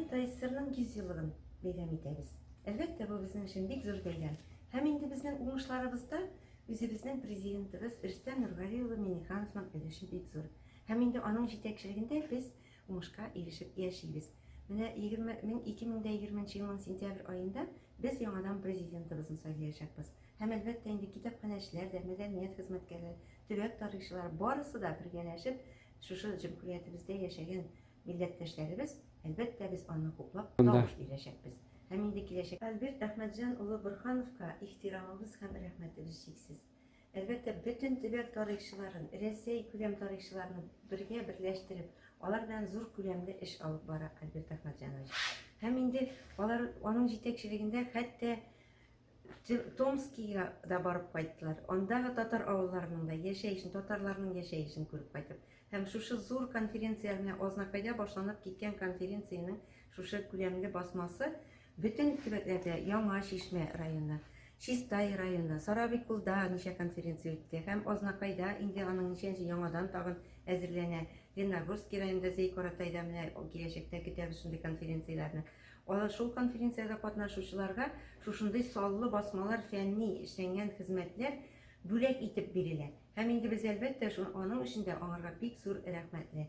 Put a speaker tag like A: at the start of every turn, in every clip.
A: ТССРның 100 еллыгын бәйрәм итәбез. Әлбәттә, бу безнең өчен бик зур бәйрәм. Һәм инде безнең уңышларыбызда үзебезнең президентыбыз Рөстәм Нургали улы Миңнехановның өлеше бик зур. Һәм инде аның җитәкчелегендә без уңышка ирешеп яшибез. Менә 20 мең 2020 елның сентябрь аенда без яңадан президентыбызны сайлаячакбыз. Һәм әлбәттә инде китапханәчеләр дә, мәдәният хезмәткәрләре, төбәк тарихчылары барысы да бергәләшеп шушы җөмһүриятебездә яшәгән милләттәшләребез, әлбәттә без аны хуплап тавыш бирәчәкбез. Һәм инде киләчәк. Альберт Әхмәтҗан улы Борхановка ихтирамыбыз һәм рәхмәтебез чиксез. Әлбәттә, бөтен төбәк тарихчыларын, Рәсәй күләм тарихчыларны бергә берләштереп, алар белән зур күләмле эш алып бара Альберт Ахматҗанович. Һәм инде алар аның җитәкчелегендә хәтта Томскига да барып кайттылар. Андагы татар авылларының да яшәешен, татарларның яшәешен күреп кайтып. Һәм шушы зур конференция, менә Азнакайда башланып киткән конференциянең шушы күләмле басмасы Бөтен төбәкләрдә Яңа Чишмә районы, Чистай районы, Сарабикулда ничә конференция үтте һәм Азнакайда инде аның ничәнче яңадан тагын әзерләнә. Ленногорски районында Зәй-Каратайда менә киләчәктә көтәбез шундый конференцияләрне. Алар шул конференциядә катнашучыларга шушындый саллы басмалар, фәнни эшләнгән хезмәтләр бүләк итеп бирелә. Һәм инде без, әлбәттә, аның өчен дә аңарга бик зур рәхмәтле.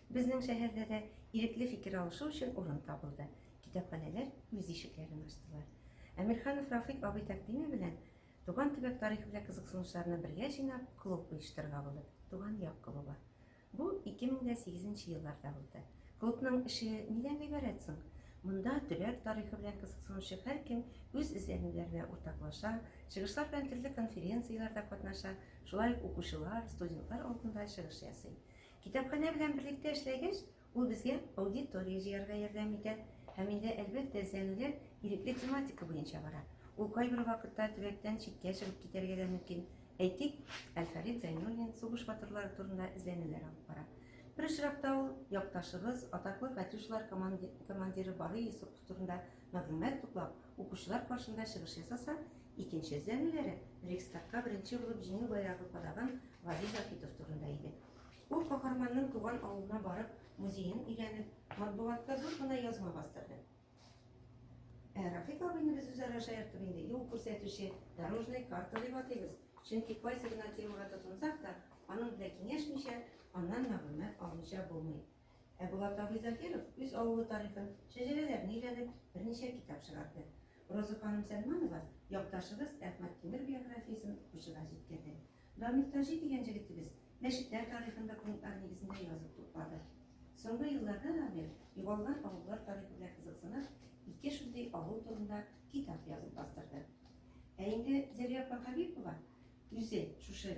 A: Безнең шәһәрдә дә ирекле фикер алышу өчен урын табылды, китапханәләр үз ишекләрен ачтылар. Әмирханов Рафыйк абый тәкъдиме белән, туган төбәк тарихы белән кызыксынучыларны бергә җыйнап, клуб оештырырга булдык, Туган як клубы. Бу 2008 нче елларда булды. Клубның эше нидән гыйбарәт соң? Монда төбәк тарихы белән кызыксынучы һәркем үз эзләнүләренә уртаклаша, чыгышлар белән төрле конференцияләрдә катнаша, шулай ук укучылар, студентлар алдында чыгыш ясый. Китапханә белән берлектә эшләгәч, ул безгә аудитория җыярга ярдәм итә һәм инде, әлбәттә, эзләнүләр ирекле тематика буенча бара. Ул кайбер вакытта төбәктән читкә чыгып китәргә дә мөмкин. Әйтик, Әлфәрит Зәйнуллин сугыш батырлары турында эзләнүләр алып бара. Бер очракта ул якташыбыз, атаклы Катюшалар командиры Барый Йосыпов турында Мәгълүмат туплап, укучылар каршында чыгыш ясаса, икенче эзләнүләре Рейхстагка беренче булып Җиңү байрагы кадаган Вагил Заһитов турында иде. Ул каһарманның туган авылына барып, музеен өйрәнеп, матбугатка зур гына язма бастырды. Ә Рафик абыйны без үзара шаяртып инде юл күрсәтүче, дорожный карта дип атыйбыз. Чөнки кайсы гына темага тотынсак та, аның белән киңәшмичә, аннан мәгълүмат алмыйча булмый. Ә Булат абый Закиров үз авылы тарихын, шәҗәрәләрен өйрәнеп, берничә китап чыгарды. Роза ханым Сәлманова якташыбыз Әхмәт Тимер биографиясен укучыга җиткерде. Данил Таҗи дигән җегетебез мәчетләр тарихын документлар нигезендә язып туплады. Соңгы елларда Данил югалган авыллар тарихы белән кызыксынып, ике шундый авыл турында китап язып бастырды. Ә инде Зәрия апа Хәбипова үзе шушы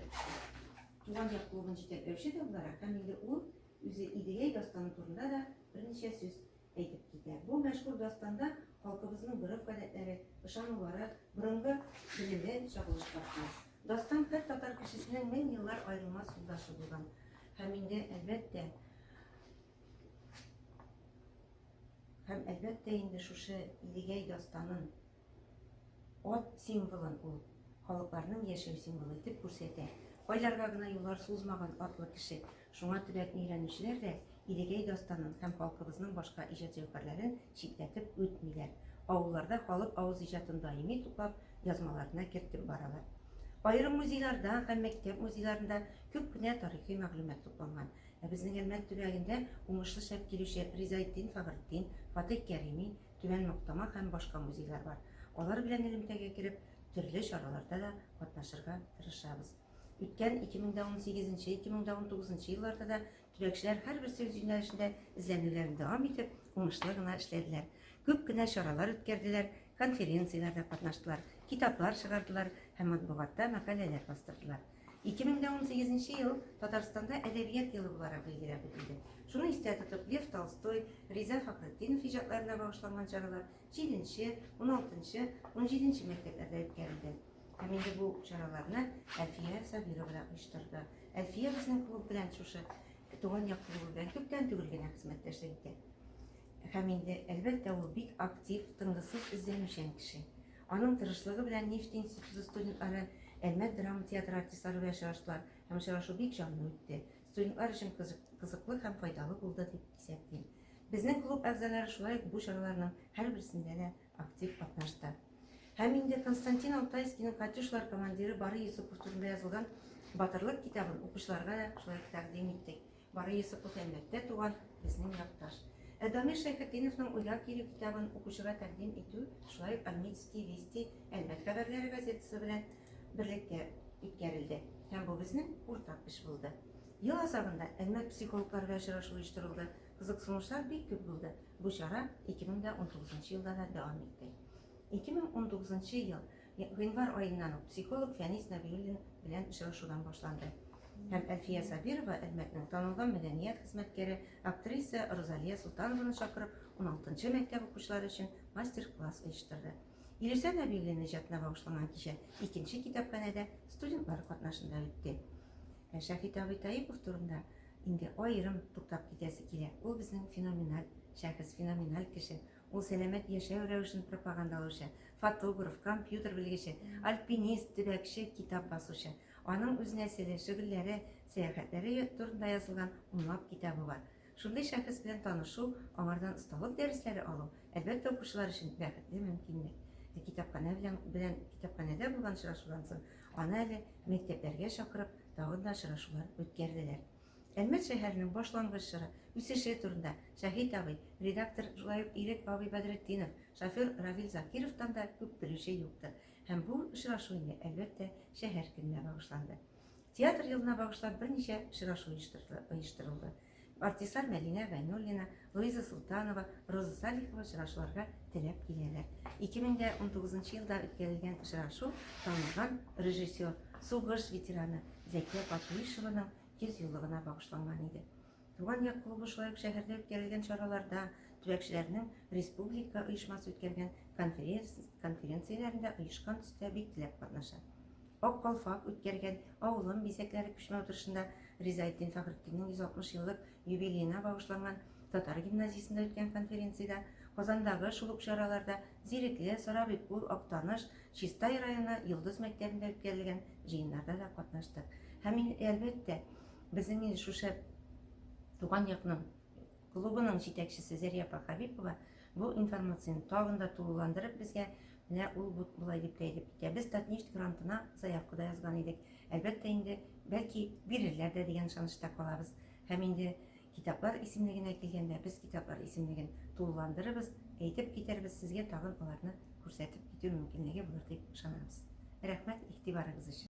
A: туган як клубын җитәкләүче дә буларак һәм инде ул Үзе Идегәй дастаны турында да берничә сүз әйтеп китә. Бу мәшһүр дастанда халкыбызның гореф-гадәтләре, ышанулары, борынгы белеме чагылыш тапкан. Дастан һәр татар кешесенең мең еллар аерылмас юлдашы булган. Һәм инде, әлбәттә, һәм әлбәттә инде шушы Идегәй дастанын Ат символын ул халыкларның яшәү символы итеп күрсәтә. Кайларга гына юллар сузмаган атлы кеше. Шуңа төбәкне өйрәнүчеләр дә Идегәй дастанын һәм халкыбызның башка иҗат җәүһәрләрен читләтеп үтмиләр. Авылларда халык авыз иҗатын даими туплап, язмаларына кертеп баралар. Аерым музейларда һәм мәктәп музейларында күп кенә тарихи мәгълүмат тупланган. Ә безнең Әлмәт төбәгендә уңышлы шәп килүче Ризаэтдин Фагретдин, Фатыйх Кәрими, Түбән Мактама һәм башка музейлар бар. Алар белән элемтәгә кереп, төрле чараларда да катнашырга тырышабыз. Үткән 2018-2019 елларда да төбәкчеләр һәрбер сүз юнәлешендә эзләнүләрен дәвам итеп, уңышлы гына эшләделәр. Күп кенә чаралар үткәрделәр, конференцияләрдә катнаштылар, китаплар чыгардылар һәм матбугатта мәкаләләр бастырдылар. 2018 нче ел Татарстанда әдәбият елы буларак билгеләп үтелде. Шуны истә тотып, Лев Толстой, Риза Фәхретдинов иҗатларына багышланган чаралар 7-нче, 16-нчы, 17-нче мәктәпләрдә үткәрелде. Һәм инде бу чараларны Әлфия Сабировна оештырды. Әлфия безнең клуб белән шушы туган як клубы белән күптән түгел генә хезмәттәшлек итә. Һәм инде, әлбәттә, ул бик актив, тынгысыз, эзләнүчән кеше. Аның тырышлыгы белән Нефть институты студентлары Әлмәт драма театры артистлары белән очраштылар һәм очрашу бик җанлы үтте. Студентлар өчен кызыклы һәм файдалы булды дип исәплим. Безнең клуб әгъзалары шулай ук бу чараларның һәрберсендә дә актив катнашты. Һәм инде Константин Алтайскийның Катюшлар командиры Бары Юсупов турында язылган Батырлык китабын укучыларга да шулай тәкъдим иттек. Бары Йосыпов Әлмәттә туган, безнең якташ. Ә Дамир Шәйхетдиновның Уйлар кире китабын укучыга тәкъдим итү шулай ук Альмитские вести Әлмәт хәбәрләре газетасы белән берлектә үткәрелде һәм бу безнең уртак эш булды. Ел азагында Әлмәт психологлары белән очрашу оештырылды. Кызыксынучылар бик күп булды. Бу чара 2019 елда да дәвам итте. 2019 ел Гыйнвар аеннан ук психолог Фәнис Нәбиуллин белән очрашудан башланды һәм Әлфия Сабирова Әлмәтнең танылган мәдәният хезмәткәре, актриса Розалия Солтанованы чакырып, уналтынчы мәктәп укучылары өчен мастер-класс оештырды. Илүсә Нәбиуллин иҗатына багышланган кичә икенче китапханәдә студентлар катнашында үтте. Ә Шәфит абый Таипов турында инде аерым туктап китәсе килә. Ул безнең феноменаль шәхес, феноменаль кеше. Ул сәламәт яшәү рәвешен пропагандалаучы, фотограф, компьютер белгече, альпинист, төбәкче, китап басучы. Аның үз нәселе, шөгыльләре, сәяхәтләре турында язылган унлап китабы бар. Шундый шәхес белән танышу, аңардан осталык дәресләре алу, әлбәттә, укучылар өчен бәхетле мөмкинлек. Ә китапханә белән белән китапханәдә булган очрашудан соң аны әле мәктәпләргә чакырып, тагын да очрашулар үткәрделәр. Әлмәт шәһәренең башлангыч чоры, үсеше турында Шәһит абый, редактор, шулай ук Ирек бабый Бәдретдинов, шофер Равил Закировтан да күп белүче юктыр. Һәм бу очрашу инде, әлбәттә, шәһәр көненә багышланды. Театр елына багышлап берничә очрашу оештырылды. Артистлар Мәдинә Гайнуллина, Луиза Султанова, Роза Салихова очрашуларга теләп киләләр. 2019 елда үткәрелгән очрашу танылган режиссер, сугыш ветераны Зәкия Патуишеваның 100 еллыгына багышланган иде. Туган як клубы шулай ук шәһәрдә үткәрелгән чараларда, төбәкчеләрнең республика оешмасы үткәргән конференцияләрендә оешкан төстә бик теләп катнаша. Ак калфак үткәргән авылым бизәкләре күчмә утырышында Ризаэддин Фәхретдиннең 160 еллык юбилеена багышланган татар гимназиясендә үткән конференциядә, Казандагы шул ук чараларда, Зирекле, Сорабый күл, Актаныш, Чистай районы Йолдыз мәктәбендә үткәрелгән җыеннарда да катнаштык. Һәм инде, әлбәттә, безнең инде шул шәп туган якның клубының җитәкчесе Зәрия апа Хәбипова бу информацияне тагын да тулыландырып, безгә Менә ул бут болай дип тә әйтеп китә. Без Татнефть грантына заявка да язган идек. Әлбәттә инде, бәлки, бирерләр дә дигән ышанычта калабыз. Һәм инде китаплар исемлегенә килгәндә, без китаплар исемлеген тулыландырырбыз, әйтеп китәрбез, сезгә тагын аларны күрсәтеп китү мөмкинлеге булыр дип ышанабыз. Рәхмәт игътибарыгыз өчен.